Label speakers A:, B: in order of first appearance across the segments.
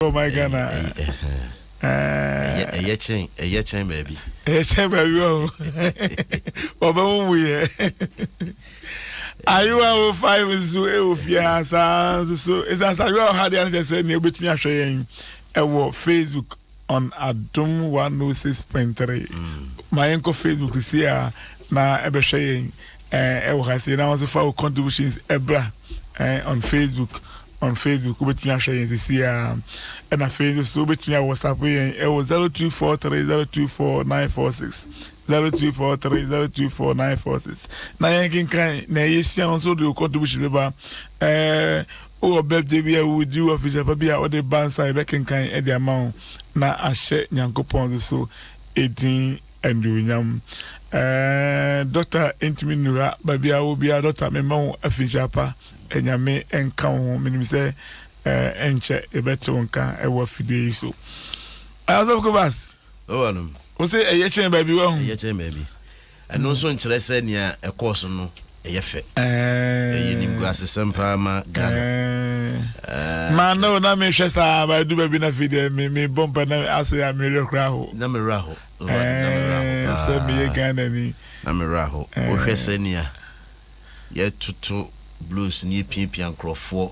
A: Oh my God.
B: Ɛyɛ kyɛn ɛyɛ kyɛn baabi. Ɛyɛ kyɛn baabi
A: ɔho. Ɔbɛ mu mu yɛ. Ayewa wo five nso ɛwɔ eh, fie ha saa nso so. Ɛsan sɛ ayewa ɔha deɛ ankyɛ sɛ nea wobɛtumi ahwɛ yɛn ɛwɔ eh, Facebook on Adom 106.3. Ma yɛnkɔ Facebook si a na ɛbɛhwɛ yɛn. ɛɛ ɛwɔ ha sei na wɔn nso fa wo contributions ɛbra ɛɛ on facebook on facebook wobɛtumi ahwɛ yɛn sisi a ɛna afei nso so wobɛtumi a whatsapp yɛn ɛwɔ zero two four three zero two four nine four six zero two four three zero two four nine four six na yɛn kankan na ɛyɛ hyia wɔn nso de wo contribution bɛba ɛɛ wowɔ birthday bi a wodi wɔ afidie pa bi a wɔde ba nsa yɛbɛkenkan ɛde ama wo na ahyɛ nyankopɔn nso so edin. Anuonyam eeh Dɔkta ntumi nnura baabi a wobiara Dɔkta me mma wo afikyire apa Nyame nka wo ho menim sɛ eeh ɛnkyɛ yɛbɛte wo nka wɔ afidie yi so ah Ɔsɔfo Kobas wose
B: ɛyɛ kyɛn
A: baabi wahu. Ɛyɛ kyɛn baabi
B: ɛno nso nkyerɛ sɛ nea ɛkɔɔ so no. ɛyɛ fɛ. Ɛyɛ eh. nimguasesɛm paa ma Ghana. Eh.
A: Eh, ma no na mehwɛ saa ba du baabi na afei deɛ mebɔ mpa na asɛ a mewerɛ kora ho. Na mewerɛ ho. Sɛ meyɛ Ghana ni. Na mewerɛ ho.
B: Wohwɛ sɛnea yɛtoto blues ne yɛpiapia nkurɔfoɔ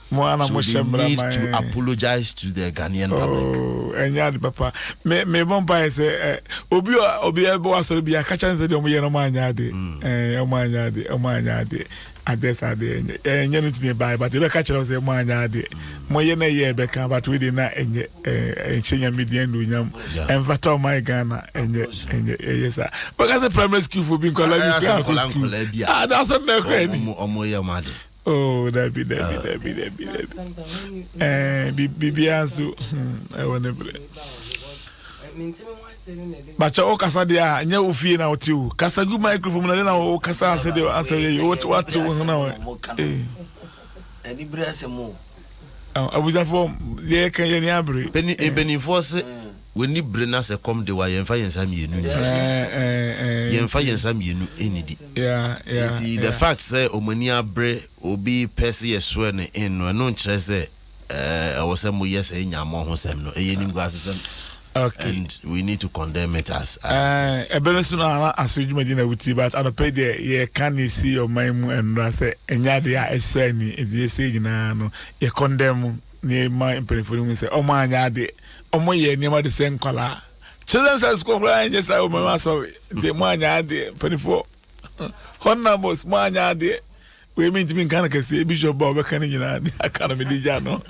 B: Mo ara na mo hyɛ mmara man. So they need to apologize to the Ghanaian public. Oh, ɛnyɛ ade papa.
A: Me me bɔ mpa yɛ sɛ eh, obi a obi a ɛbɔ asɔre bi akakyɛ nsɛ de ɔmo yɛ no ɔmo anyɛ ade. Hmm. Eh, ɔmo anyɛ ade, ɔmo anyɛ ade. Ade sa ade ɛnyɛ eh, ɛnyɛ no tumi bae but ebe kakyɛ no sɛ ɔmo anyɛ ade. Hmm. Mo yɛ na yɛ ɛbɛ kan but we de na ɛnyɛ eh ɛnhyɛ nyame di ɛndu nyam. Ɛnfata ɔmo ayɛ Ghana ɛnyɛ ɛnyɛ ɛyɛ sa. Bɛka sɛ primary school fo bi nkɔla bi fi akɔ school. Ah, that's a mɛkɔ ɛni. Ɔmo yɛ ɔmo ade.
B: Oh, dabi,
A: dabi, ah. dabi, dabi, dabi. Eh, bibia nso, hmm, ɛwɔ ne berɛ. Bakyɛ wo kasa deɛ a, nyɛ wo fie na wote o. Kasa gu microphone mu na de na wo kasa ase deɛ asɛ yɛ yi, wote wo ho na wɔ. Eh. Ɛni
C: berɛ asɛm o. Ah,
A: abusuafoɔ, yɛ yɛ kan yɛ ni abere. Beni, eh. Benifoɔ se.
B: Eh. W'ani bere na sɛ kɔm de wo a, yɛmfa yɛn nsa mmienu nnidi. Eh, eh, eh, Yɛmfa nti. yɛn nsa mmienu nnidi. Yeah, yeah,
A: Nti the yeah. fact
B: sɛ wɔn ani abere obi pɛ sɛ yɛsoɛ no in no, ɛno nkyerɛ sɛ eh, ɛwɔ sɛ moyɛ sɛ nya mo ho sɛm no. Ɛyɛ animguasesɛm Okay. and
A: we need to
B: condemn it as, as it Eh, is. ɛbɛ no so no ana
A: asɔre dwumadi na wotie but anɔpa yi deɛ yɛka ne ɛsi ɔman mu nnora sɛ ɛnyɛ adeɛ a ɛsɔ ani nti yɛsɛ nyinaa no yɛkɔndɛm mu Nea ɛma mpanyimfo no hu sɛ wɔanyɛ ade, wɔyɛ nneɛma te sɛ nkwadaa. Children's High School koraa nyɛ saa wɔ mmɛn asɔre. Nti moanyɛ adeɛ mpanyimfoɔ. Honorables moanyɛ adeɛ. Wei mentumi nka no kɛseɛ, bishop ba ɔbɛka no nyinaa de aka no mede gya no.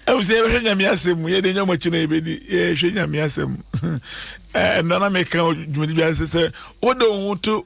A: Ɛmu sɛ yɛbɛhwɛ nyame asɛm mu, yɛde nyɛ ɔmakyi na yɛbɛdi, yɛhwɛ nyame asɛm. Ɛnna na meka dwumadi bi ase sɛ wode wo ho to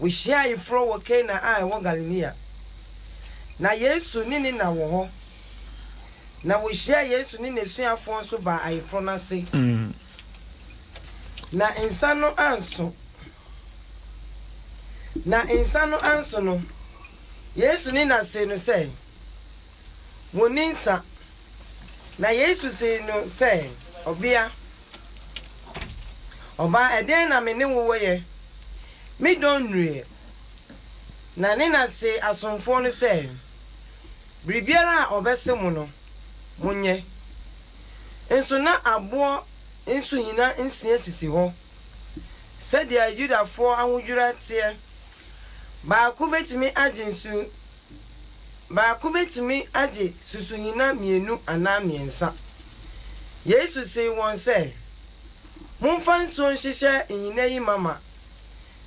D: Wohyiaa ayeforo wɔ Kana a ɛwɔ Galilea. Ná Yesu ne ne na wɔ hɔ, na wohyiaa Yesu ne n'asuafoɔ nso baa ayeforo no ase. Na nsã no anso. Na nsã no anso no, Yesu ne na see no sɛ, Wɔnni nsã. Na Yesu see no sɛ, Ɔbea. Ɔbaa ɛdɛn na me ne wo wɔ yɛ? Me dɔ nnuruiɛ. Na ne na se asomfoɔ no sɛ, Biribiara a ɔbɛse mo no, monyɛ. Nso na aboɔ nsuhina nsia sisi hɔ, sɛdeɛ Yudafoɔ ahodwira teɛ. Baako bɛtumi agye nsu Baako betumi agye susuhina mmienu anaa mmiɛnsa. Yesu see wɔn sɛ, Momfa nsuo nhyehyɛ nhina yi ma ma.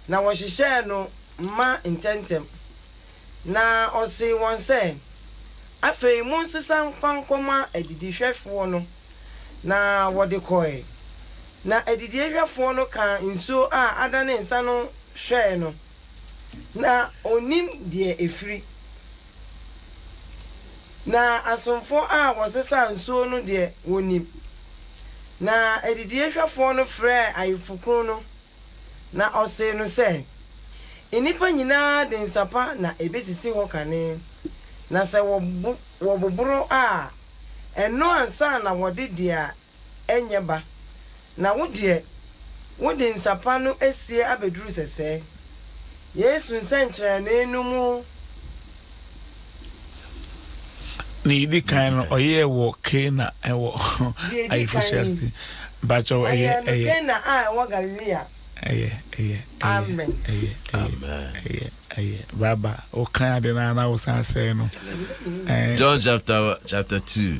D: Na wɔhyehyɛɛ no ma ntɛmntɛm. Na ɔsee wɔn sɛ, Afei monsesa mfa nkɔma adidihwɛfoɔ no. Na wɔde kɔe. Na adidiehwɛfoɔ no kaa nsuo a adane nsã no hwɛe no. Na ɔnnim deɛ ɛfiri. Na asomfoɔ a wɔsesaa nsuo no deɛ wɔnim. Na adidiehwɛfoɔ no frɛɛ ayeforokunu no, na ɔsee no sɛ, Nnipa nyina ara de nsa pa na ɛbɛsisi hɔ kane, na sɛ wɔboboro a, ɛno ansa na wɔde deɛ ɛnyɛ ba, na wo deɛ, wode nsa pa no asie abɛduru sɛsɛɛ. Yesu nsɛnkyerɛnne no mu
A: Nea edi kan no, ɔyɛɛ wɔ Kana wɔ Deɛ edi kan ayeforohyia yi, ase. Mpakyɛw, ɛyɛ, ɔyɛɛ no ɛyɛ, Kana
D: a ɛwɔ Galilea. ɛyɛ, ɛyɛ, ɛyɛ, Amen. ɛyɛ, ɛyɛ, Amen.
A: ɛyɛ, ɛyɛ. Baba, wokan ade no ara na wosan sɛe no. John
B: chapter chapter two.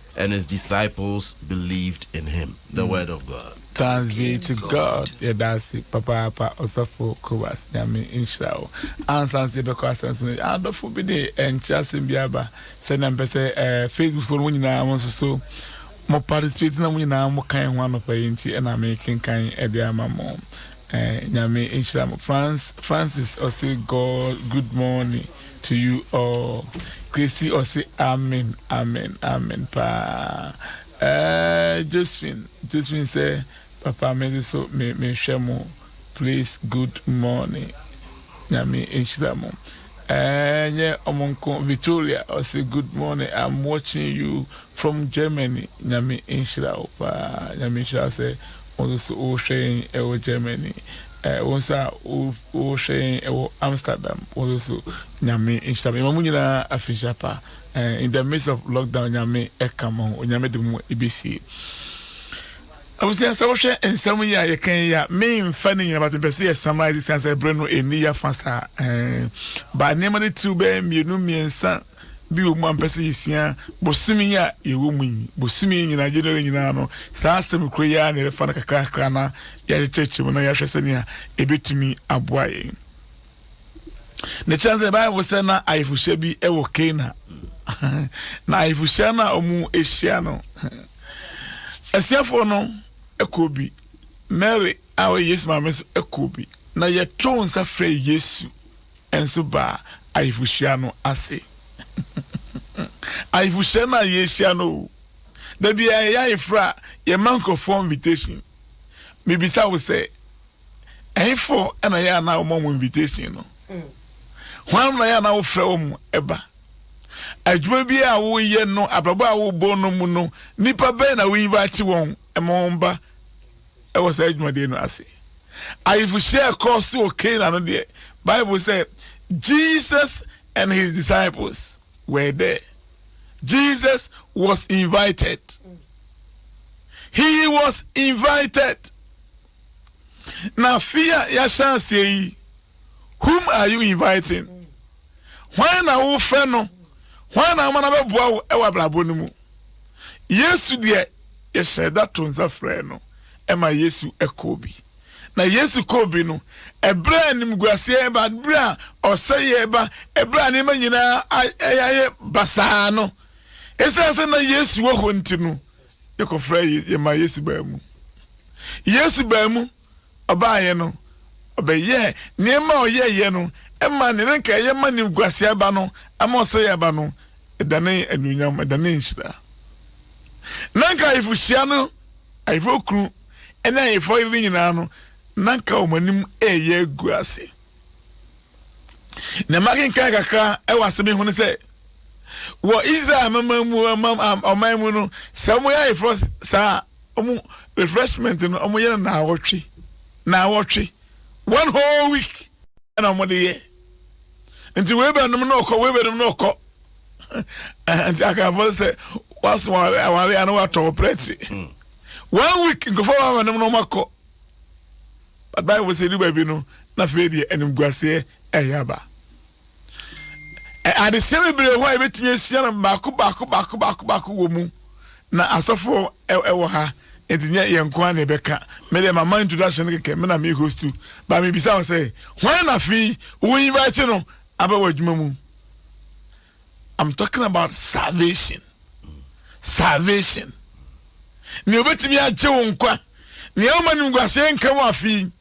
B: And his disciples believed in him. The word of God. Thanks be to
A: God yɛda ase papaapa ɔsɔfo Kowals Nyame nhyira wo ansa nso yɛbɛkɔ asɛnso no adɔfo bi de ɛnkyerɛ asɛm bi aba sɛnea mpɛ sɛ ɛɛ Facebook fo no mo nyinaa mo nso so mo participate na mo nyinaa mo kan ho anɔpa yi nti ɛna me kenkan ɛde ama mo ɛɛ Nyame nhyira mo France Francis ɔse God good morning to you all Gracie ɔse amen amen amen paa ɛɛɛɛ Josephine Josephine sɛ papa me nso so me me hwɛ mo please good morning Nyame nhyira mo ɛɛɛɛ nyɛ ɔmo nko Victoria ɔse good morning I'm watching you from Germany Nyame nhyira wo paa Nyame nhyira wo sɛ wo nso so wo hwɛ yɛn ɛwɔ Germany Eh, wo nsa a wohwɛ yɛn ɛwɔ Amsterdam, wo nso so Nyame nhyira me. Yɛma mo nyinaa afinhyia pa. Eh, in the midst of lockdown, Nyame ɛka mo ho. Onyame de mo ebesie. Abusua sɛ wohwɛ nsɛm yi a yɛka yi a, memfa ne nyina but mepɛ sɛ yɛ summarize siane sɛ berɛ no ɛnni yɛ afa saa. Eh, ba nneɛma no tiriw bɛyɛ mmienu mmiɛnsa bi wɔ mu a mepɛ sɛ yɛsua bosome yi a yɛwɔ mu yi, bosome yi nyinaa, January nyinaa no, saa asɛm koro yi ara na yɛbɛfa no kakrakra na yɛakyekyɛkyɛ mu na yɛahwɛ sɛnea ɛbɛtumi aboa yɛn. Ne kyɛn sɛ Bible sɛ na ayefohyia bi wɔ Kana. na ayefohyia no a wɔahyia no, asuafoɔ no kɔɔ bi, Mary a ɔyɛ Yesu maame nso kɔɔ bi, na yɛtoo nsa frɛɛ Yesu. nso baa ayeforhyia no ase. Ayeforhyia no a yɛrehyia no o, da biara yɛyɛ ayeforo a, yɛma nkurɔfoɔ invitation. Mebisa wo sɛ, ɛhefoɔ na ɛyɛ a na wɔma wɔn invitation no? Hwan na ɛyɛ a na wofrɛ wɔn ba? Adwuma bi a woreyɛ no, abrabɔ a worebɔ no mu no, nnipa bɛn na wo invite wɔn ma wɔn ba? wɔ saa adwumaden no ase. Ayefohyia a ɛkɔɔ so wɔ Cana no deɛ, Bible sɛ, Jesus and his disciples were there. Jesus was invited. He was invited. Na afe a yɛahyɛ aseɛ yi, whom are you inviting? Hwan na wofrɛ no? Hwan na woma no bɛboa wo wɔ abrabɔ no mu? Yesu deɛ, yɛhyɛɛ da too nsa frɛɛ no ma Yesu kɔɔ bi. Na Yesu kɔɔ bi no, ɛberɛ a animguaseɛ reba, ɛberɛ a ɔsɛeɛ reba, ɛberɛ a nneɛma nyinaa ayɛ basaa no, ɛsiane sɛ na Yesu wɔ hɔ nti no, yɛkɔfrɛɛ, yɛmaa Yesu baa mu. Yesu baa mu. ɔbaeɛ no, ɔbɛyɛɛ nneɛma a ɔyɛeɛ no maa deɛ na anka ɛyɛ ma animguaseɛ aba no, ama ɔsɛeɛ aba no, ɛdanee anuonyam, ɛdanee nhyira. Na anka ayefohyia no, ayefoɔ kunu ne ayefoɔ yere no nyinaa no, na anka wɔn anim reyɛ agu ase. Na makenkan kakra wɔ asɛm yi ho no sɛ, wɔ Israel amanaman mu, ɔman mu no, sɛ wɔyɛ ayeforɔ saa a, wɔn refreshment no wɔyɛ no naawɔtwe naawɔtwe one whole week ɛna wɔde yɛ nti wei bɛ nom na ɔkɔ wei bɛ nom na ɔkɔ nti akanfo sɛ waso aware ano watɔ ɔprɛte hmm. one week nkɔfɔ wɔn ama nom na wɔn akɔ but bible sɛ edu baabi no na afei deɛ animguaseɛ ɛyɛ aba. Adesua bebree hɔ a yɛbɛtumi asua no baako baako baako baako baako wɔ mu na asɔfo wɔ ha nti nyɛ yɛn nko ara na yɛbɛka me deɛ mama introduction no kɛkɛ me na me host ba mebisa wo sɛ hwan na afei wo invite no aba wɔ adwuma mu I'm talking about salvation salvation nea obɛtumi agye wo nkwa nea woma no nguaseɛ nka mu afei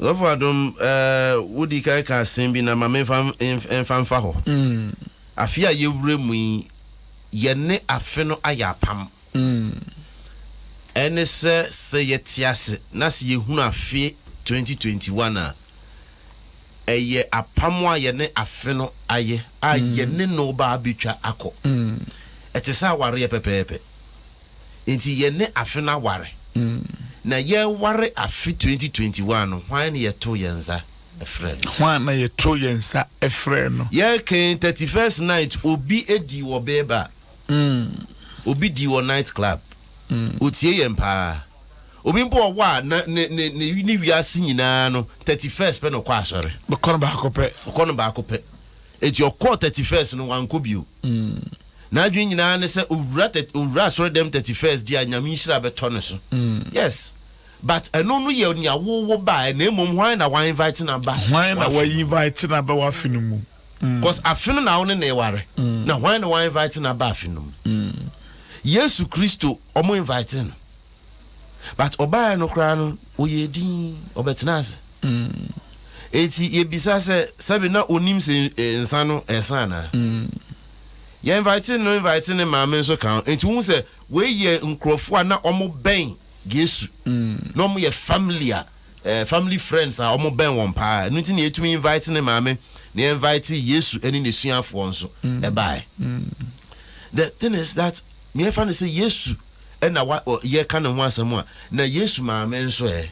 A: Ɔsɔfo Adom,
B: eh, wodi kan ka asem bi na ma menfa mfa mfa hɔ. Afe a yɛwura mu yi, yɛne afe no ayɛ apam. Ɛne sɛ, sɛ yɛte ase na sɛ yɛhunu afe 2021 a, ɛyɛ apam a yɛne afe no ayɛ a yɛne no ba abɛtwa akɔ. Ɛte sɛ awareɛ pɛpɛɛpɛ. Nti yɛne afe no aware na yɛware afe twenty twenty one no hwan na yɛto yɛn nsa frɛ no. Hwan na yɛto yɛn
A: nsa frɛ no. Yɛkan thirty
B: first night obi dii wɔ bee bar obi dii wɔ night club otie yɛn paa obi mpo wɔ hɔ a na ne ne ne ne wiase nyinaa no thirty first pɛ na ɔkɔ asɔre. Ɔkɔ no baako pɛ.
A: Ɔkɔ no baako pɛ. Enti ɔkɔɔ
B: Thirty First no, wankɔ bio. N'adwene nyinaa ne sɛ owura thir-, owura asɔredɛm Thirty First di a Nyame nhyira bɛtɔ ne so. Yes. But ɛno no yɛ nea wo wo baeɛ na mmom hwan na wa invite no aba Hwan na wa w'afe no mu. invite
A: no aba w'afe no mu? Cos afe
B: no na wo ne no reware. Na hwan na wa invite no aba afe no mu? Yesu Kristo, wɔn invitee no. but ɔbaeɛ no koraa no ɔyɛɛ din ɔbɛtenaa ase enti yɛbisa sɛ sɛbe na ɔnim sɛ nsa no ɛsa anaa yɛ invite no invite ne maame nso ka ho enti wohu sɛ wei yɛ nkurɔfoɔ a na ɔmo bɛn Yesu na ɔmo yɛ family a eh, family friends a ɔmo bɛn wɔn paa ɛno nti na yɛtumi invite ne maame na yɛ invite Yesu ne n'asuafoɔ nso ɛbaeɛ the thing is that meɛfa no sɛ Yesu na wa ɔ yɛka ne ho asɛm a, na Yesu maame nso ɛ?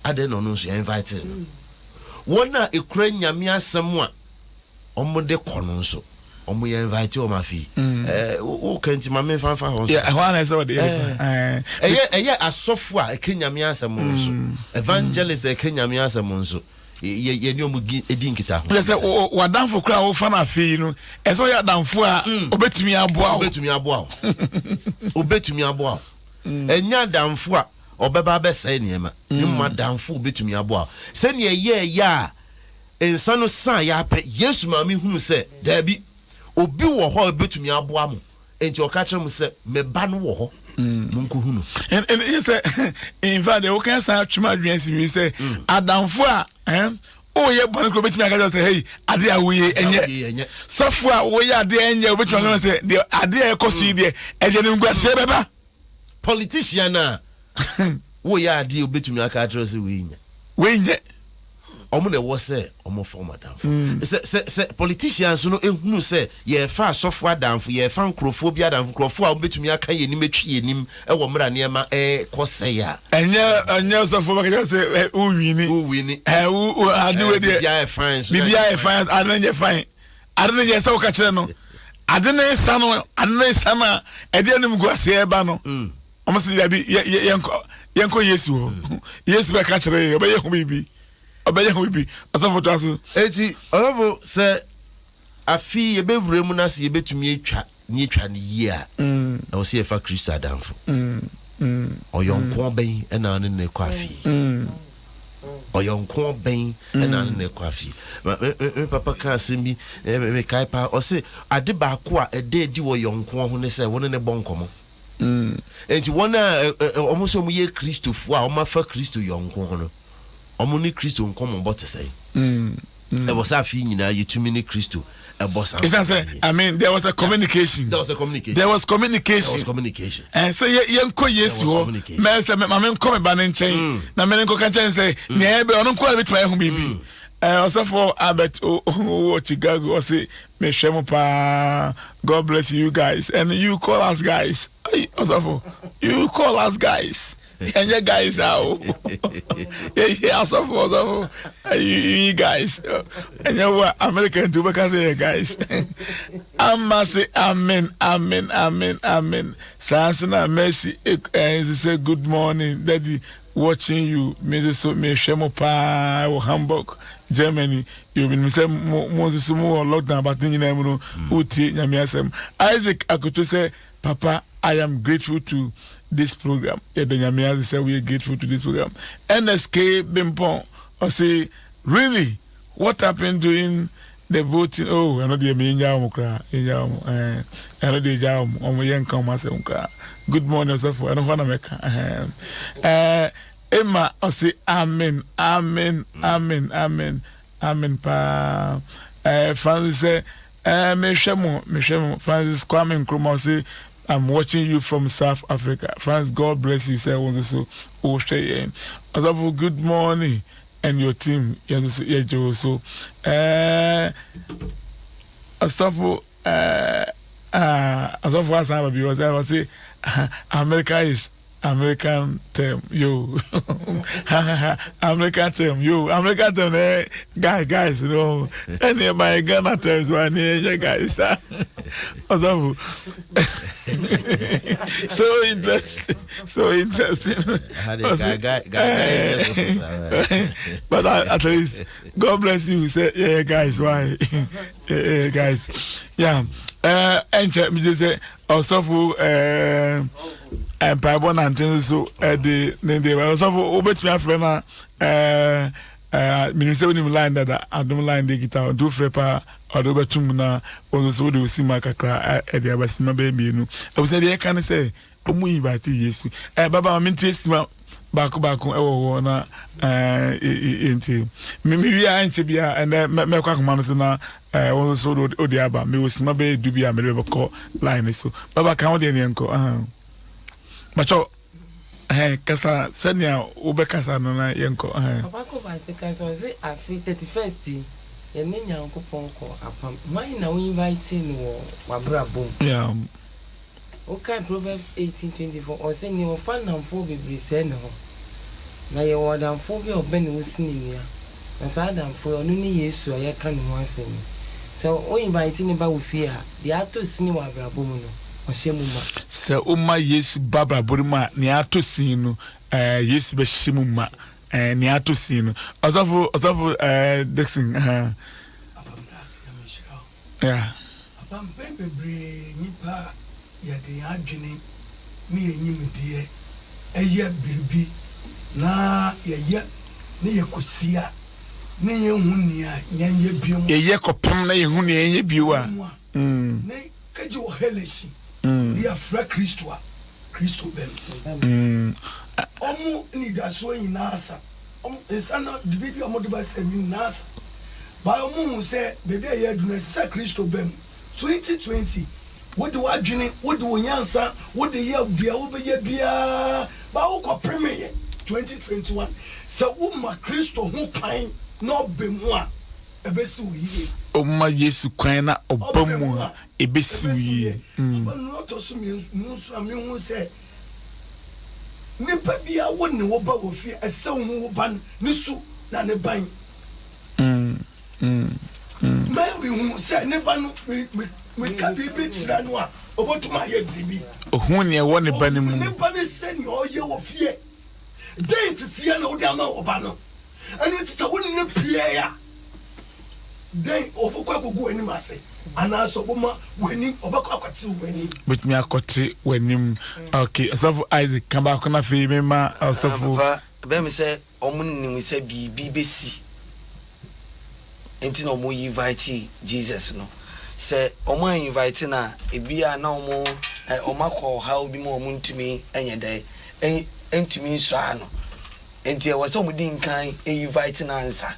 B: Adɛn na ɔno nso yɛinvitee no? Wɔn a ɛkura Nyame asɛm a wɔde kɔ no nso, wɔn yɛinvitee wɔn afei. Ɛɛ woka nti ma memfa mfa hɔ nso. Yeah, ɛhɔ ara na ɛsɛ sɛ wɔde yɛ nipa. Ɛɛ,
A: Ɛyɛ
B: ɛyɛ asɔfo a ɛka Nyame asɛm nso, evangelist a ɛka Nyame asɛm nso. yɛ yɛ ne wɔn di di nkitaho. Yɛ sɛ wɔ w'adanfo
A: koraa a wofa no afei yi no, ɛsɛ ɔyɛ adanfo a mm. obetumi aboa wo. Obetumi aboa wo. Obetumi aboa wo.
B: Mm. Ɛnyɛ adanfo a ɔbɛba abɛsɛe nneɛma. Mm. Ne mu adanfo obetumi aboa wo. Sɛnea ɛyɛ ɛyɛ a nsa no san yɛ apɛ Yesu maame hunu sɛ daabi obi wɔ hɔ a obetumi aboa mo. Enti ɔka kyerɛɛ mo sɛ, Me Ba no wɔ hɔ, monkohu no. Ɛyɛ sɛ
A: in fact deɛ woka san atwe m'adwene asi biribi sɛ mm. adamfo a woyɛ bɔne kora wobɛtumi aka kyerɛ sɛ hei adeɛ a woyɛ ɛnyɛ sɔfo a woyɛ adeɛ ɛnyɛ wobɛtumi aka sɛ deɛ adeɛ a ɛkɔ so yi deɛ ɛdeɛ no nkwasɛ bɛba Politician
B: a wo yɛ adeɛ obetumi aka akyerɛ sɛ wei nyɛ. Wei nyɛ.
A: Ɔmo
B: na ɛwɔ sɛ ɔmo fa ɔmo adanfo. Sɛ sɛ sɛ politicians no ehunu sɛ yɛɛfa asɔfo adanfo, yɛɛfa nkorɔfoɔ bi adanfo, nkorɔfoɔ a ɔmo betumi aka yɛn anim atwi yɛn anim ɛwɔ mmerɛ a nneɛma ɛɛkɔ sɛɛ a. Ɛnyɛ ɛnyɛ sɔfo
A: bɛka kyerɛ sɛ ɛ wo wini. Wo wini. Ɛ wo wo ade wei deɛ. Bibi
B: ayɛ fine. Bibi ayɛ fine. Ano nyɛ
A: fine. Ade no yɛ sɛ woka kyerɛ no ade no resa no ade no resa no a ɛde anim gu aseɛ ɛba no mm. ɔmo sɛ dabi yɛnkɔ yesu hɔ mm. yesu bɛka kyerɛ yɛ ɔbɛyɛ ho biribi ɔbɛyɛ ho biribi ɔsɔfo to aso eti ɔsɔfo
B: sɛ afi yɛbɛwura mu no ase yɛbɛtumi atwa Nea etwa no yie a, ɛwɔ sɛ yɛfa Kristo adamfo. Ɔyɔnkoɔ bɛn na wo ne no rekɔ afie? Ɔyɔnkoɔ bɛn na wo ne no rekɔ afie? Ma- Me me- me papa kaa asɛm bi, eh, me- mekae paa. Ɔse, ade baako a ɛda adi wɔ yɔnkoɔ ho ne sɛ wo ne no bɔ nkɔmmɔ. Enti wɔn a ɛ- ɛ- ɛ- wɔn sɛ wɔyɛ Kristofoɔ a wɔafa Kristo yɔnkoɔ no, wɔn ne Kristo nkɔmmɔbɔ te sɛn? ɛwɔ sɛ afei nyinaa yɛtumi ne kristo ɛbɔ saa ɛsiane sɛ i mean there
A: was a communication there was a communication there was communication there was communication ɛn sɛ yɛnkɔ yesu hɔ mɛ sɛ ma menkɔ me ba no nkyɛn mm. na mene nkɔka nkyɛn sɛ mm. nea ɛbɛ ɔno nkoa bɛtumi ayɛ ho biribi mm. ɔsɔfo albert wɔ chicago ɔse mehwɛ mo paa god bless you guys and you call us guys ɔsɔfo you call us guys ɛnyɛ guys a o yɛyɛ asɔfo ɔsɔfo yi guys ɛnyɛ wo a america nti wobɛka sɛ yɛ guys ama se amen amen amen amen saa nso na mercy nso sɛ good morning daddy watching you me nso so mehwɛ mo paa wɔ hamburg germany yɛbinom sɛ mo nso so mo wɔ lockdown but ne nyinaa mu no wotie nyame asɛm isaac akoto sɛ Papa I am grateful to this program yɛda Nyame ase sɛ woyɛ grateful to this program Ernest K Bempɔn ɔse really what happened during the voting oh ɛno deɛ me yɛnyaa wɔn koraa yɛnyaa wɔn ɛɛ ɛno deɛ gyaa wɔn wɔn yɛnka wɔn asɛm koraa good morning ɔsɛfo ɛno hɔ na mɛka ɛɛ Emma ɔse amen amen amen amen amen paa ɛɛ Francis sɛ Ɛɛ mehwɛ mo mehwɛ mo Francis Kwame Nkrumah ɔse I'm watching you from South Africa Francis God bless you sɛ wo nso so wohwɛ yɛn ɔsɔfo good morning and your team yɛn nso so yɛgye wo so ɛɛ ɔsɔfo ɛɛ ah ɔsɔfo asan ba bi ɔsɛ ɔse America is American term yo ha ha ha American term yo American term na eh, guy guys no ɛne eh, my Ghana terms wa ne ɛnyɛ eh, guys sa ɔsɔfo so interesting so interesting but at least God bless you sɛ yɛyɛ guys why yɛyɛ guys yeah ɛnkyɛ megye sɛ Ɔsɔfo ɛɛ mpaebɔ nante nso ɛde ne deɛ ba ɔsɔfo wobɛtumi afrɛ na ɛɛ ɛɛ menim sɛ wonim line dada adom line deɛ kita nti wofrɛ paa ɔde wobɛto mu na wɔn nso wode osima kakra ɛde aba sima bɛyɛ mmienu abusua deɛ ɛka ne sɛ wɔn invite yesu ɛɛ baba wɔn nti esima. baako baako ɛwɔ hɔ na ɛɛ yɛ nti mi mi wia ɛnkyɛ bi a ɛnɛ mɛ mɛkɔ akoma no so na ɛɛ wɔn nso de ɔde aba mi wɔ sima bɛyɛ du bi a mɛ de bɛ kɔ line ne so baba kan ɔde ɛni ɛnkɔ ɛhɛn bàtɔ ɛhɛn kasa sɛnea wobɛ kasa no na yɛ nkɔ ɛhɛn. papa kɔ baasi kasa ɔsi afi thirty first yi yɛne nyankopɔn kɔ
D: apam wɔn na wɔn invite no wɔ wabra bom. Yeah.
A: Wokan
D: Proverbs eighteen twenty four, ɔse, Nea ɔfa nnamfoɔ bebree sɛe ne ho, na yɛwɔ adamfoɔ bi a ɔbɛne wo si ne nua, na saa adamfoɔ yi, ɔno ne Yesu a yɛreka ne ho asɛm yi. Sɛ wo invite ne ba wo fie a, deɛ atɔ sini wɔ abrabɔ mu no, ɔhyɛ mu ma.
A: Sɛ woma Yesu ba abrabɔ no mu a, nea atɔ sini no, eh, Yesu bɛhyɛ mu ma, eh, nea atɔ sini no. Ɔsɔfo, Ɔsɔfo, eh, Dickson, eh. Papa, meda ase, Nyame nhyira wo.
E: Ɛ. Papa, mpɛn bebree nnipa a yɛde yɛn adwene ne yɛn nimdeɛ yɛ biribi na yɛyɛ na yɛkɔsi a na yɛnhu nea yɛnyɛ bio. Yɛyɛ kɔpem na
A: yɛnhu nea yɛnyɛ bio a. Ne
E: kagye wɔ Helasi ne yɛafra Kristo a, Kristo bɛn. Wɔn anidasoɔ nyinaa sa. Wɔn nsa no de biribi a wɔde ba sɛ Min Naasa, bae, wɔhuu sɛ baabi a ɛyɛ adu no, ɛsɛ sɛ Kristo ba mu. Twenty twenty, Wode w'adwene, wode wo nyansa, wode yɛ deɛ wobɛyɛ biara, baa wokɔpemeeɛ. Twenty twenty one, Sɛ woma Kristo ho kwan na ɔba mu a, ɛbɛsi wo yie. Woma Yesu
A: kwan na ɔba mu a, ɛbɛsi wo yie. Aba no ɔtɔ
E: so mmienu nso a mehu sɛ Nipa biara wo ne wo ba wɔ fie ɛsɛ sɛ wo hu wo ba no ne su na ne ban. Mary hu sɛ ne ba no me ka biribi kyerɛ no a ɔbɛtum ayɛ biribi. Ɔhu nea ɛwɔ ne
A: ba no mu. Ɔhu ne ba no sɛnea
E: ɔyɛ wɔ fie. Dɛn nteteɛ na wode ama wo ba no? Ɛno nti sɛ wo ne no pue a, dɛn, ɔbɛkɔ akɔgu w'anim ase anaasɛ ɔbɛma w'anim, ɔbɛkɔ akɔte
A: w'anim? Ɔbɛtumi akɔte w'anim. Ok, Ɔsɔfo Isaac, ka baako no afei mema Ɔsɔfo. Papa, ɛbɛyɛ me sɛ
C: wɔnim sɛ biribi bɛsi nti na wɔn invite Jesus no. Sɛ wɔn an invite no a, ebia na wɔn, wɔn akɔ ɔhaw bi mu a wɔntumi nyɛ dɛn, ntumi nsɔre ano. Nti ɛwɔ sɛ wɔn di nkan invite no ansa.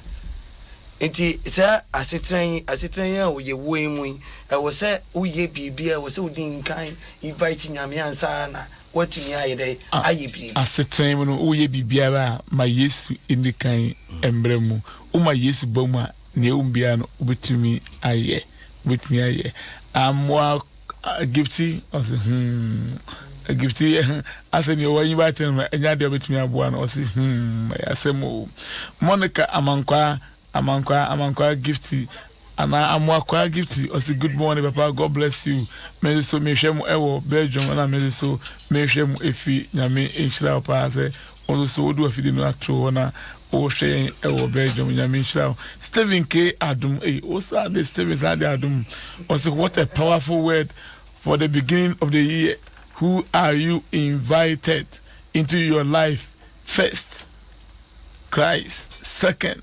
C: Nti saa asetena yi, asetena yi a wɔyɛ wɔ yi mu yi, ɛwɔ sɛ woyɛ biribi a ɛwɔ sɛ wodi nkan invite Nyame ansa na woatumi ayɛ dɛn? Ayɛ biribi. Asetena yi mu no, woyɛ
A: biribiara a, ma Yesu nni kan mmra mu. Woma Yesu ba mu a, nea ɛwom biara no, wobɛtumi ayɛ. Wobɛtumi ayɛ. Amoa Egipti, ɔse humm, Egipti asɛ nea ɔwɔ anyiwa akyɛ no no ɛnyɛ adeɛ a ɔbɛtumi aboa no, ɔse humm ɛyɛ asɛm o. Monica Amankwaa, Amankwaa, Amankwaa Gifty anaa Amoakwaa Gifty ɔse good morning papa God bless you, me nso mehwɛ mo ɛwɔ Belgium ɛna me nso mehwɛ mo ɛfie Nyame nhyira wo paa sɛ Wo nso wode w'afidie no ato hɔ na wohwɛ yɛn wɔ Belgium. Nyame nhyira wo. Stephen K. Adom. Ei, wo saa de Stephen saa de Adom. Ɔse what a powerful word for the beginning of the year. Who are you invited into your life first? Christ second.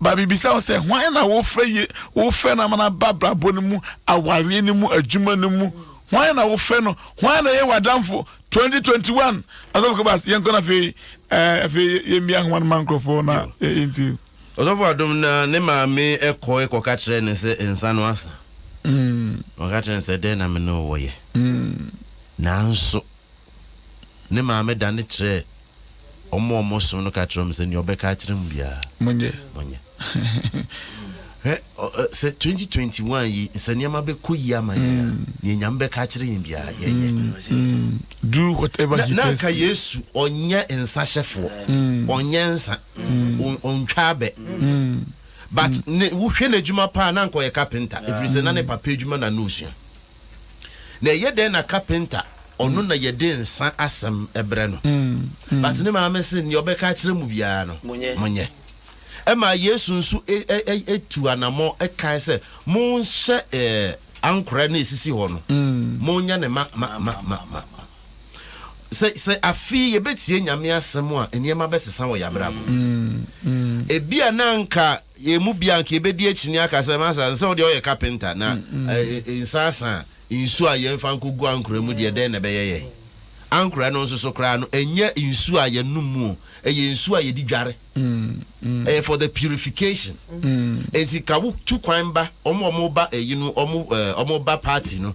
A: Ba mibisa wo sɛ, hwan na wofrɛ ye, wofrɛ no ama no aba abrabɔ no mu, awareɛ no mu, adwuma no mu, hwan na wofrɛ no, hwan na ɛyɛ w'adamfo, 2021 Asɔfo Kɛbas yɛnkɔ no afei ɛɛ afei yɛmmia nhoma no ma nkorɔfoɔ na yɛ yɛntie. Ɔsɔfo Adom
B: na ne maame kɔ kɔka kyerɛɛ no sɛ nsa no asa. Wɔka kyerɛɛ no sɛ dɛn na me ne wo wɔ yɛ? Nanso. Ne maame dane kyerɛɛ wɔn a wɔsom no ka kyerɛɛ wɔn sɛ, Nea ɔbɛka akyerɛ mo biara, monyɛ. monyɛ.
A: Hwɛ,
B: ɔ, ɛ, sɛ 2021 yi, sɛ nneɛma bɛkɔ yie ama yɛn a, mm. nea Nyame bɛka akyerɛ yɛn biara, yɛnyɛ. Mm, mm. Do whatever
A: na, he na anka Yesu ɔnyɛ
B: nsa hyɛfoɔ, mm. ɔnyɛ nsa, mm. ɔntwa abɛ. Mm. But mm. ne, wohwɛ n'adwuma paa na anka ɔyɛ kapenta, ɛfiri sɛ na ne papa adwuma na na ɔsua. Na ɛyɛ dɛn na kapenta ɔno na yɛde nsa asɛm brɛ no. But ne maame se nea ɔbɛka akyerɛ mo biara no monyɛ. Ɛmaa Yesu nso tuu anammɔn kae sɛ monhyɛ ankorɛ no a ɛsisi hɔ no, monyɛ no ma ma ma ma ma. Sɛ sɛ afei yɛbɛtie Nyame asɛm a nneɛma bɛsesa wɔ yɛabrabɔ mu. Ebia na anka Yɛn mu biara anka yɛbɛdi akyinnye aka sɛ, Masa, ɛsɛ sɛ wo deɛ woyɛ kapenta, na nsaasa a nsuo a yɛmfa nkɔgu ankorɛ mu deɛ, dɛn na ɛbɛyɛ yɛn? Ankorɛ no nso so koraa no, ɛnyɛ nsuo a yɛnom mu o, ɛyɛ nsuo a yɛde dware. Ɛyɛ for the purification. Enti ka wotu kwan ba, wɔn a wɔba ayi no, wɔn wɔn ba party no,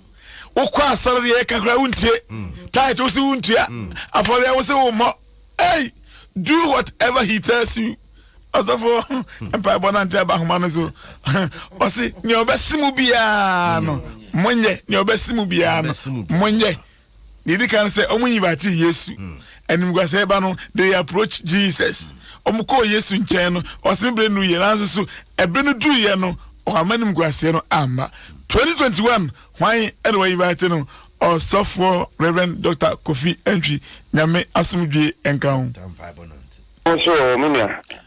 A: wokɔ asɔre deɛ yɛka koraa wontie tit wo se wontua afɔreɛ wo se wommɔ ei do whatever he tells you ɔsɔfo mpaebɔ no nte aba homa no so ɔse nea ɔbɛse mu biara no monyɛ nea ɔbɛse mu biara no monyɛ Nea edi kan no sɛ wɔn invite Yesu. Hmm. Animguasɛɛ ba no, they approach Jesus. Wɔn hmm. kɔɔ Yesu nkyɛn no, ɔsɛ me bere nu yɛ nanso so ɛbere no duru yɛ no, wɔama animguasɛɛ no amma. 2021 hwan ɛna wɔ invite no? Ɔsɔfoɔ Reverend Dr. Kofi Antwi Nyame asomdwie nka ho. Nso
F: me nua.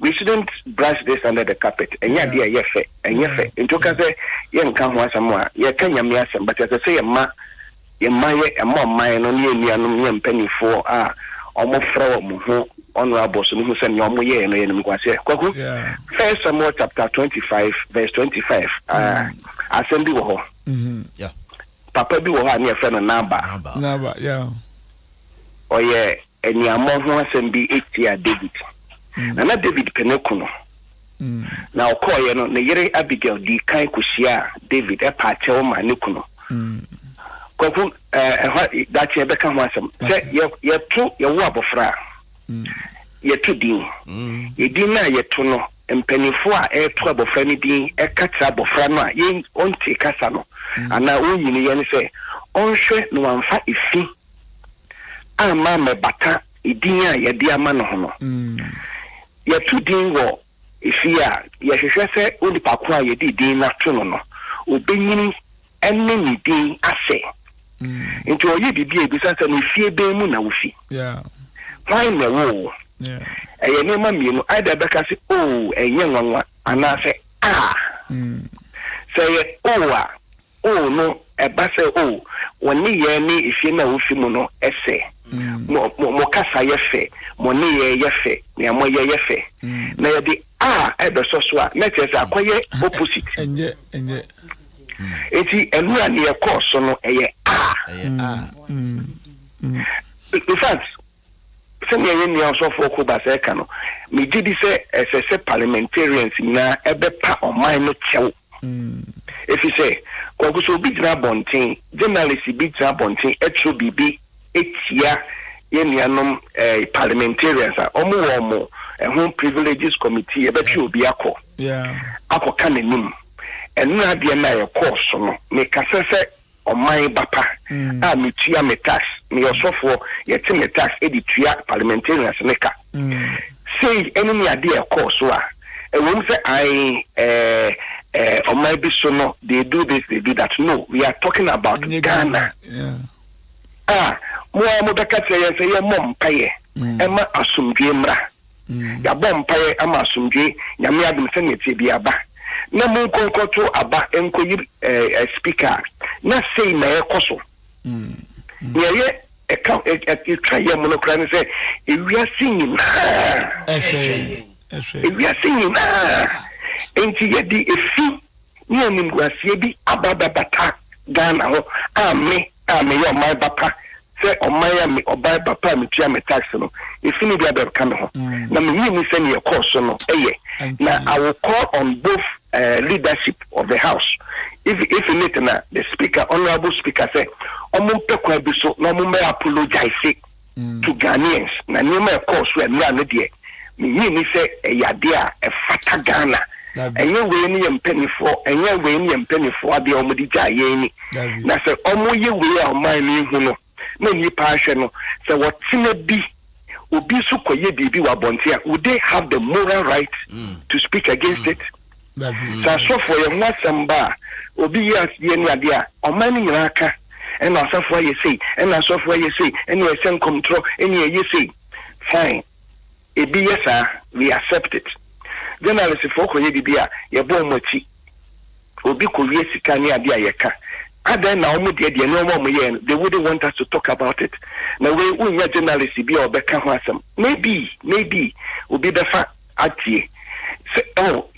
F: We shouldn't brush this under the carpet, ɛnyɛ adeɛ a ɛyɛ fɛ, ɛnyɛ fɛ nti woka sɛ yɛnka ho asɛm a, yɛka Nyame asɛm but ɛsɛ sɛ yɛma yɛma yɛ ɛma ɔman no ne yɛn nuanom ne yɛn mpaninfoɔ a wɔn frɛ wɔn ho honourables no hu sɛ nea wɔn yɛɛ no yɛ animguaseɛ. Kwaku, First Samuel chapter twenty five verse twenty five ah, asɛm bi wɔ hɔ,
B: papa bi wɔ
F: hɔ a ne yɛfrɛ no Naba, ɔyɛ aniammɔ ho asɛm bi tiaa Dawid, na na Dawid pene ko no. Na ɔkɔeɛ no, ne yere Abigail dii kan kɔhyiaa Dawid paa kyɛw maa ne kunu. Kwaku, ɛhɔ daakye yɛbɛka ho asɛm. Sɛ yɛto yɛwo abɔfra a, yɛto din. Edin no a yɛto no, mpanimfoɔ a ɛreto abɔfra no din ka kyerɛ abɔfra no a ɔntee kasa no anaa ɔnnyiniiɛ no sɛ ɔnhwɛ na wamfa efi amma ammɛbata edin a yɛde ama no ho no. Yɛto din wɔ fie a, yɛhwehwɛ sɛ onipa ko a yɛde edin no ato no no, obenyin ne ne din asɛ. Enti ɔyɛ biribi a, yebisa sɛ, Efie bɛn mu na wufi? Hwan na ɛwoo wo? Ɛyɛ nneɛma mmienu, either ɛbɛka sɛ Oo, ɛnyɛ nwanwa, anaasɛ Aa. Sɛ ɛyɛ Oo a, O no, ɛba sɛ, O, wɔn nneyɛɛ ne efie no a wofi mu no sɛ, Mo, mo, mo kasa yɛ fɛ, mo nneyɛɛ yɛ fɛ, nea moyɛ yɛ fɛ. Na yɛde a rebɛsɔ so a, na kyerɛ sɛ akɔyɛ opposite.
A: Enti
F: ɛno a nea ɛkɔɔ so no, ɛyɛ a. In fact. Sɛnea yɛn nua Ɔsɔfo Ɔko Bassey ka no, Migye di sɛ ɛsɛ sɛ parliamentarians nyinaa bɛpa ɔman no kyɛw. Efisɛ, Kwaku, sɛ obi gyina abɔnten, journalist bi gyina abɔnten kyerɛw biribi tia yɛn nuanom parliamentarians a, wɔwɔ wɔn ho Privileges Committee, yɛbɛtwe obi akɔ akɔka n'anim. Nnora deɛ no a ɛkɔɔ so no, mekasa sɛ Ɔman ba pa a metua me tax, meyɛ ɔsɔfoɔ, yɛte me tax de tua parliamentarians no ka. Sei ne nea adeɛ rekɔɔ so a, ɛwom sɛ ae eh, ɔman bi so no, they do this, they do that, no, we are talking about Ghana a mo ara mobɛka kyerɛ yɛn sɛ yɛmmɔ mpaeɛ ɛma asomdwoeɛ mmra. Yɛabɔ mpaeɛ ama asomdwoeɛ, Nyame adom sɛdeɛ ɛteɛ biara ba. Na monkɔ nkɔto aba nkɔyi speaker a, na sei na ɛrekɔ so. Deɛ ɛyɛ ɛka ɛtwa yɛ mono koraa ne sɛ ewiase nyinaa, ewiase nyinaa nti yɛde efi ne animguaseɛ bi aba abɛbata Ghana hɔ a me a meyɛ ɔman ba pa sɛ ɔman a me ɔban ba pa a metua me tax no ɛfi no bi abɛka me ho na mennye nni sɛ neɛ ɛkɔɔ so no yɛ na I will call on both uh, leadership of the house if, if in it na the speaker honorable speaker sɛ ɔmo mpɛ kwan bi so na ɔmo mmɛ apologize to Ghanaians na nneɛma a ɛkɔɔ so ɛmmerɛ a no deɛ mennye nni sɛ ɛyɛ adeɛ a ɛfata Ghana. Ɛnyɛ wei ne yɛn mpaninfoɔ ɛnyɛ wei ne yɛn mpaninfoɔ adeɛ a wɔn de gyaa yɛn ni. Na sɛ wɔn yɛ wei a ɔman no nhu no na nnipa ahwɛ no sɛ wɔtena bi obi so kɔyɛ biribi wɔ abɔnten a would they have the moral right to speak against it? Sɛ asɔfoɔ yɛ ho asɛm ba a, obi yɛ asedeɛ ne adeɛ a, ɔman no nyinaa ka, Ɛna asɔfoɔ ayɛ sei, ɛna asɔfoɔ ayɛ sei, ɛna yɛhyɛ nkɔmtorɔ, ɛna yɛyɛ sei. Fine. Ebi yɛ saa, we accept it. Journalistfoɔ kɔyɛ biribi a, yɛbɔ wɔn akyi. Obi kɔwie sika ne adeɛ a, yɛka. Adɛn na wɔn deɛ deɛ nneɛma a wɔyɛɛ no, they wouldn't want us to talk about it? Na wei, wonnya journalist bi a ɔbɛka ho asɛm. Maybe, maybe obi bɛfa. atie sɛ oh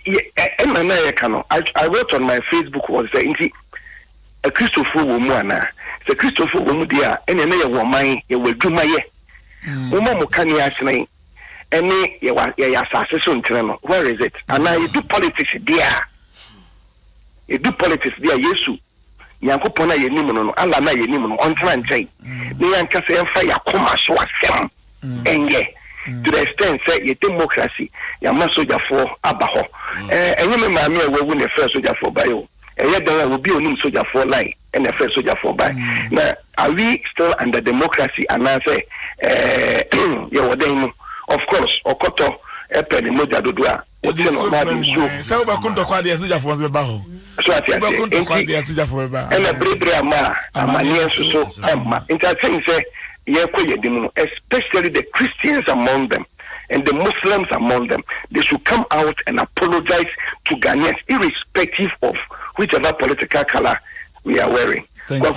F: yɛ ɛ ɛna na yɛka no I, I wrote on my Facebook was sɛ nti akristofoɔ wɔ mu anaa sɛ akristofoɔ wɔ mu deɛ a ɛnea na yɛwɔ ɔman yɛwɔ adwuma yɛ mm. moma mo kane ahyerɛn ɛne yɛwɔ yɛyɛ asase so nkyerɛ no where is it anaa yɛdu politics deɛ a yɛdu politics deɛ a yesu Nyankopɔn a yɛnim no no, Allah no a yɛnim no, ɔntena nkyɛn, na yɛn ankasa yɛmfa yɛn akoma so asɛm nyɛ, to the extent sɛ yɛ democracy yɛama sogyafoɔ aba hɔ. Ɛɛ, ɛnyɛ me maame a wawu na ɛfrɛɛ sogyafoɔ baeɛ o, ɛyɛ dɛn a obi a ɔnim sogyafoɔ line na ɛfrɛɛ sogyafoɔ baeɛ? Na are we still under democracy anaasɛ ɛɛ yɛwɔ dɛn mu? Of course, ɔkɔtɔ pɛ ne mogya dodo a. Wode
A: nsuo fira wo mu ɛ sɛ wobɛko ntɔkwa adeɛ asigyafoɔ nso bɛba hɔ wobɛko
F: ntɔkwa adeɛ asigyafoɔ bɛba ɛna berebere ama a amaneɛ nso so ɛmma nti asɛm sɛ yɛkɔ yɛ anim no especially the Christians among them and the Muslims among them they should come out and apologize to Ghanaians irrespective of whichever political color we are wearing. Thank you.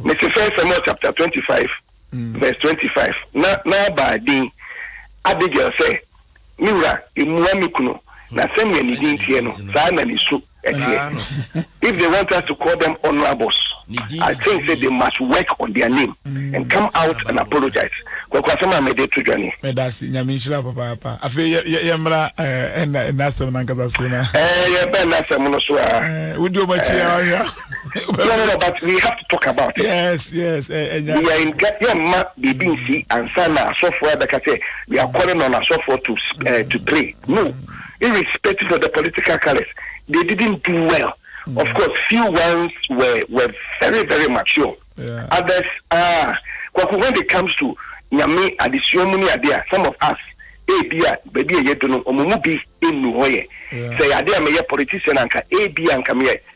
F: Mr. First Samuel chapter 25 Verse twenty five, Na Nabal din Abigail sɛ, Me wura, mmua me kunu, na sɛnea ne din teɛ no, saa na ne su teɛ. If they want us to call them honourables, I think sɛ they must work on their name and come out and apologise. Kwaku, asɛm a mede to dwa nie. Meda ase. Nyame nhyira wo
A: papaapa. Afei yɛ, yɛ, yɛmmra ɛɛ, ɛnna, ɛnna asɛm no ankasa so na. Ɛɛ, yɛbɛn asɛm
F: no so ara. Ɛɛ, wodi wɔn akyi
A: ara, wahwɛ a.
F: no no no but we have to talk about it yes
A: yes ɛnya eh,
F: eh, eh, nka yɛ mma biribi mm. nsi ansa na asɔfoɔ ɛbɛka sɛ we are calling on asɔfoɔ to uh, to pray no irrespective of the political colors they didn't do well mm. of course few ones were were very very mature yeah. others
A: ah uh,
F: kwaku when it comes to nyame adesua mu ne ade a some of us ebi a baabi a yɛdu no ɔmo mu bi nnu hɔ yɛ sɛ yɛ ade a meyɛ politician anka ebi a nka meyɛ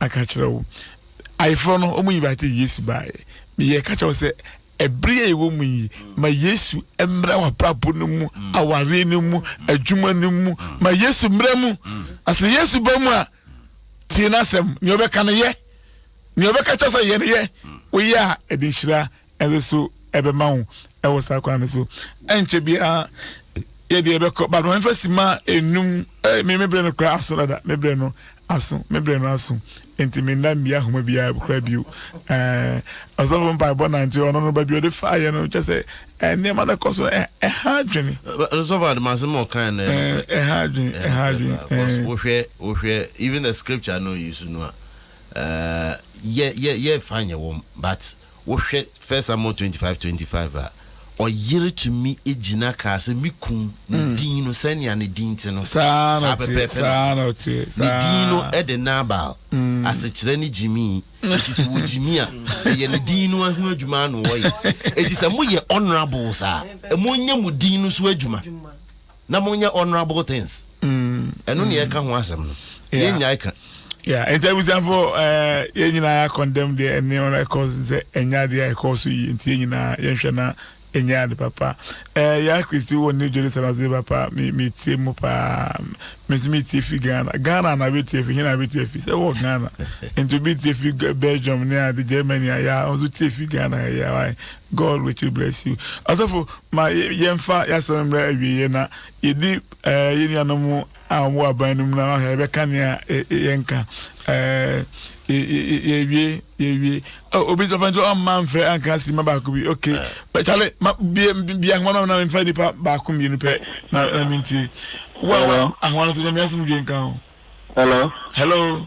A: aka akyerɛ wo. Ayeforɔ no, wɔn invite Yesu baeɛ. Meyɛ ka kyerɛ wo sɛ, ɛbere a yɛwɔ mu yi, ma Yesu mmra w'abrabɔ no mu, mm. awareɛ no mu, mm. adwuma no mu. Mm. Ma Yesu mmra mu. Na sɛ Yesu ba mu a, tie n'asɛm. Nea ɔbɛka no yɛ. Nea ɔbɛka kyerɛ sɛ yɛ no yɛ. Woyɛ a, ɛde nhyira Ɛno so ɛbɛma wo ɛwɔ saa kwan no so. Ɛnkyɛ biara yɛde yɛbɛkɔ but ma memfa sima enum eh, me me berɛ no koraa aso dada me berɛ no aso me berɛ no aso nti menna mmia ahoma biara koraa bio eh, ɔsɔfo mpaebɔ nante ɔno no ba bi ɔde faayɛ no kyɛ sɛ eh, nneɛma no kɔ so eh, ɛha adwene ɔsɔfo
B: ademasɛm ɔkae no eh, ɛha adwene eh, ɛha adwene eh. wohwɛ wohwɛ even the scripture no use no a eh, yɛ yɛ yɛ fa nyɛ wɔm but Wohwɛ First Samuel twenty five twenty five a, ɔyere tumi gyina kaa sɛ, Me kunu, ne mm. din no, sɛnea ne din te no, saa pɛpɛɛpɛ
A: na
B: ɔte. Ne din no de Nabal, mm. asekyerɛ ne gyimii. Enti sɛ wɔgyimi a, ɛyɛ ne din no ho adwuma ano wɔyɛ. Enti sɛ moyɛ honourable saa, ɛmo nyɛ mo din no so adwuma. na monyɛ honourable things ɛno ne yɛka ho asɛm no yɛnyae ka Yeah, nti abusuafo
A: ɛɛ yɛn nyinaa condemn deɛ ɛne ɔno ɛkɔ so sɛ ɛnyɛ adeɛ a ɛkɔ so yie nti yɛn nyinaa yɛnhwɛ na ɛnyɛ ade papa ɛɛ yɛ akristi wɔ ne dwere sɛ ɔdze papa mi mi tie mu paa mi nso mi tie fi ghana ghana na bɛ tie fi hin na bɛ tie fi sɛ wɔ ghana nti obi tie fi belgium ne ade germany a yɛ a ɔnso tie fi ghana yɛ a God richly bless you Ɔsɔfo ma yɛnfa y'asɛm mmrɛ awieɛ na yɛdi eh, yɛ nuanom a wɔn wɔ aban no mu na wahwɛ yɛbɛka nea eh, eh, yɛnka yɛwie eh, yɛwie oh, obi sɛ fɛnso ɔmma mfrɛ anka si ma baako bi ok kyale bia nkoma ma na memfa nipa baako mmienu pɛ na mentie wo a ahoma no so nyame asom dwe nka ho hello hello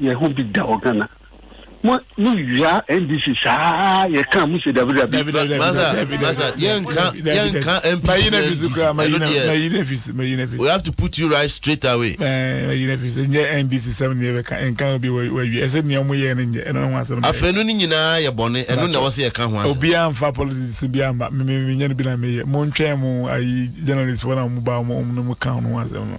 F: yɛ ho bi da wɔ ghana mo mo wia ndc saa yɛ kan mo se dabi dabi. dabi dabi dabi dabi dabi
B: yɛn nka yɛn nka npp mayi na fisi kura mayi na mayi na fisi mayi na fisi. we have to put you right straight away. ɛɛ mayi na fisi n yɛ
A: ndc sɛm ni yɛ bɛ ka nka obi wɔ wɔ wia ɛsɛ nea mo yɛ ne nyɛ ɛna ho asɛm. afei no ni nyinaa yɛ
B: bɔnne ɛno na wɔsi yɛ ka ho asɛm. obi anfa politics
A: bi ama mi mi mi nyɛ no bi na mi yɛ mo ntwɛn mo ayi journalist wɔn a wɔn ba wɔn wɔn no mo ka ho asɛm no.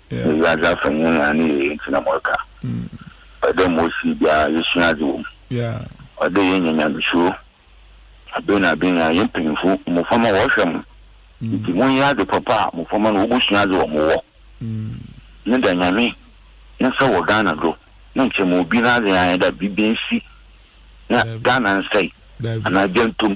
F: Na wiadze afa nyinara ne yɛyɛ ntsi na moreka. Ɔyɛ dɛ ma osii biara yesua adze wɔ mu. Ɔyɛ dɛ yenya nyamesuro. Aber na aber nyinara, hɛn mpanyimfo, mboframba wɔrohwɛ mo. Ntsi monyɛ adze papa a mboframba no wobosua adze wɔ mo hɔ. Ne da Nyame ne nsa wɔ Ghana do na nkyɛ ma obi n'adze anyɛ dɛ biribi ensi na Ghana nsɛe anaa gya nto mu.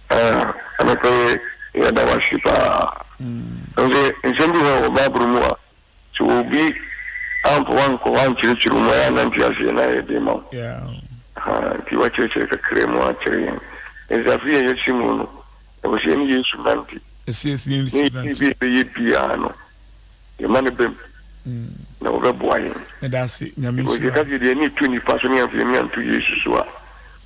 A: Eh,
F: anɔpa yi yɛda wo ase paa. Ɛno sɛ nsɛm bi hɔ wɔ Bible mu a, sɛ obi amfa wankɔ hɔ ankyerɛkyerɛ mu a, ɛyɛ a na nte aseɛ na ayɛ den ma wo. Ahaa,
A: nti
F: woakyerɛkyerɛ kakra mu akyerɛ yɛn. Ɛsɛ afe yi a yɛahyɛ mu no, ɛwɔ sɛ yɛne Yesu nante. Ne yɛyɛ bi a ɛbɛyɛ biara no, yɛma no bam na ɔbɛboa yɛn. Because
A: yɛka sɛ yɛde yɛn ani to
F: nnipa so na yɛamfa yɛn ani anto Yesu so a,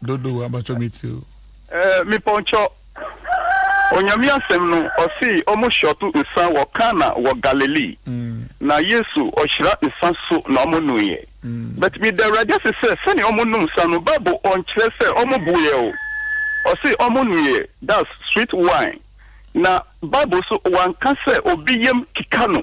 F: Dodow abacɔ me
A: ti o. Eh me pɔnkyɔ
F: Onyame asɛm no ɔse ɔmo hyɔto nsa wɔ Kana wɔ Galilee na Yesu ɔhyira nsa so na ɔmo nuiɛ but meda Awurade ase sɛ sɛnea ɔmo num nsa no bible ɔnkyerɛ sɛ ɔmo buiɛ o ɔse ɔmo nuiɛ that's sweet wine na bible so wanka sɛ obi yam keka no.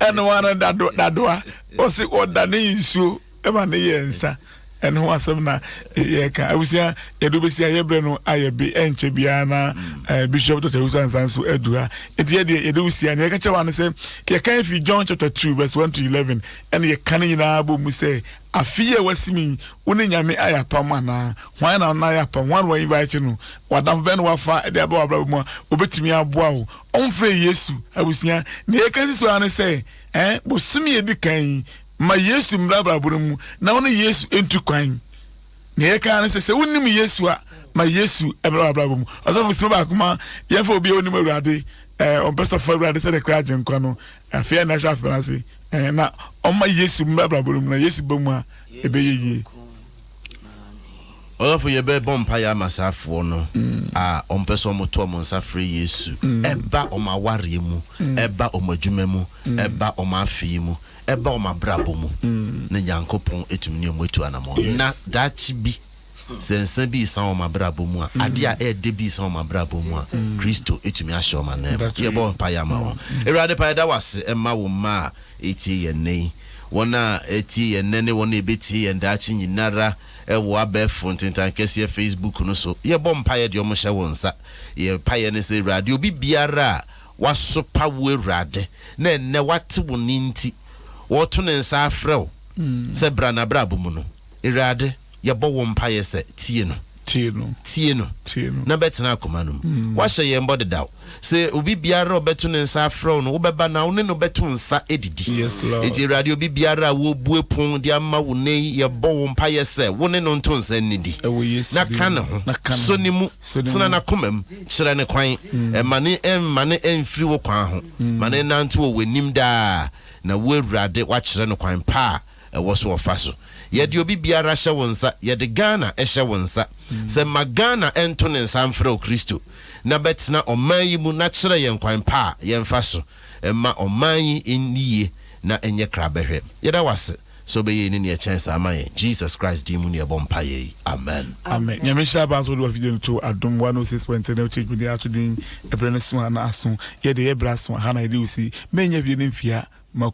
A: ɛno ara dado dadoa ɔsi ɔda ne nsuo ɛma ne yɛ nsa ɛno ho asɛm na yɛka abusua yɛde bɛsi a yɛbrɛ no ayɛ be ɛnkyɛ biara na eh, bishop dr wusu ansa nso adu ha ɛti yɛdeɛ yɛde wusi a na yɛka kyɛ wa no sɛ yɛka fi john chapter 2 verse 1 to 11 ɛne yɛka no nyinaa bɔ mu sɛ afe yi a wasimi wo ne nyame ayɛ apam anaa hwan na wona ayɛ apam hwan na wa invite no wadamfo bɛn na wafa de aba wɔ abrabɔ mu a wɔbɛtumi aboa wo Wɔmfrɛɛ Yesu abusua. Nea yɛka sisi hɔ ara ne sɛ, ɛn, bosome a edi kan yi, ma Yesu mmra abrabɔ no mu, na wo ne Yesu ntu kwan. Nea yɛka ara ne sɛ, sɛ wunnim Yesu a, ma Yesu mmra w'abrabɔ mu. Ɔsɔfo, sima baako ma yɛmfa obi a onnim Awurade, ɛn, ɔmpɛ sɛ ɔfa Awurade sɛ ne kra Agyenkwa no, afei a na ɛhyɛ afebɔɔ no ase, ɛn, na ɔmma Yesu mmra abrabɔ no mu, na Yesu ba mu a, ɛbɛyɛ yie.
B: Ɔsɔfo yɛbɛ bɔ mpaeɛ ama saafoɔ no a wɔn pɛ sɛ wɔn to wɔn nsa frɛ Yesu ɛba wɔn awareɛ mu, ɛba wɔn adwuma mu, ɛba wɔn afe yi mu, ɛba wɔn abrabɔ mu, na Nyankopɔn ɛtumi ne wɔn atu anamɔ. Na daakye bi sɛ nsa bi resan wɔn abrabɔ mu a, adeɛ a ɛɛdɛ bi resan wɔn abrabɔ mu a, Kristo ɛtumi ahyɛ wɔn anan mu. Yɛbɔ mpaeɛ ama wɔn. Awurade pa yɛda wo ase ɛma wo mma a. Etie yɛn nnɛ yi. Wɔn a ɛtie yɛn nnɛ ne wɔn a ɛbɛtie yɛn daakye nyinara wɔ abɛɛfo ntentankeseɛ Facebook no so. Yɛbɔ mpaeɛ de wɔn hyɛ wo nsa. Yɛn mpaeɛ ne sɛ Awurade obi biara a wasopa wo Awurade na ɛnnɛ wate wo nne nti ɔreto ne nsa afrɛ wo sɛ bra n'abrabɔ mu no Awurade Yɛbɔ wo mpaeɛ sɛ, tie no. Tie no. Tie no. Tie no. Na bɛtena akoma no mu. Woahyɛ yɛn bɔ dedaw sɛ obi biara a ɔbɛto ne nsa afrɛ wo no, wobɛba na wo ne no bɛto nsa adidi. Yes, Lord. Enti Awurade, obi biara a wɔrebue pon de ama wo nnɛ yi, yɛbɔ wo mpaeɛ sɛ, wo ne no nto nsa nnidi. Ɛwɔ Yesu din mu. Na ka ne ho. Na ka ne ho. Sɔ ne mu. Sɔ ne mu. Tena n'akoma mu. Kyerɛ no kwan. Mma ne, mma no mfiri wo kwan ho. Ma no nnante wɔ w'anim daa, na wo Awurade, woakyerɛ no kwan pa a. ɛwɔ so ɔfa so. Yɛde obi biara hyɛ wo nsa, yɛde Ghana hyɛ wo nsa. Sɛ ma Ghana nto ne nsa mfrɛ wo Kristo na bɛtena ɔman yi mu na kyerɛ yɛn kwan pa a yɛmfa so mma ɔman yi nni yie na ɛnyɛ krabɛhwɛ. Yɛda wo ase sɛ wobɛyɛ yei ne nea ɛkyɛn saa ama yɛn. Jesus Christ din mu ne yɛbɔ mpaeɛ yi. Amen. Amen. Nyame nhyira aba
A: nso wode wa video no to adom 106.3 na wotie dwumadi ato din ɛbrɛ no so a na aso yɛde yɛ brɛ aso aha na yɛde wo si mɛnya video no mfia ma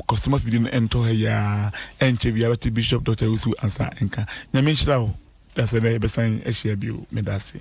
A: Kɔsoma fidie no ɛntɔ ha yi aa ɛnkyɛ biaa bɛte Bishop Doctor Owusu Ansah nka. Nyame nhyira wo. Dase dɛ yɛbɛsan ahyia bio. Medase.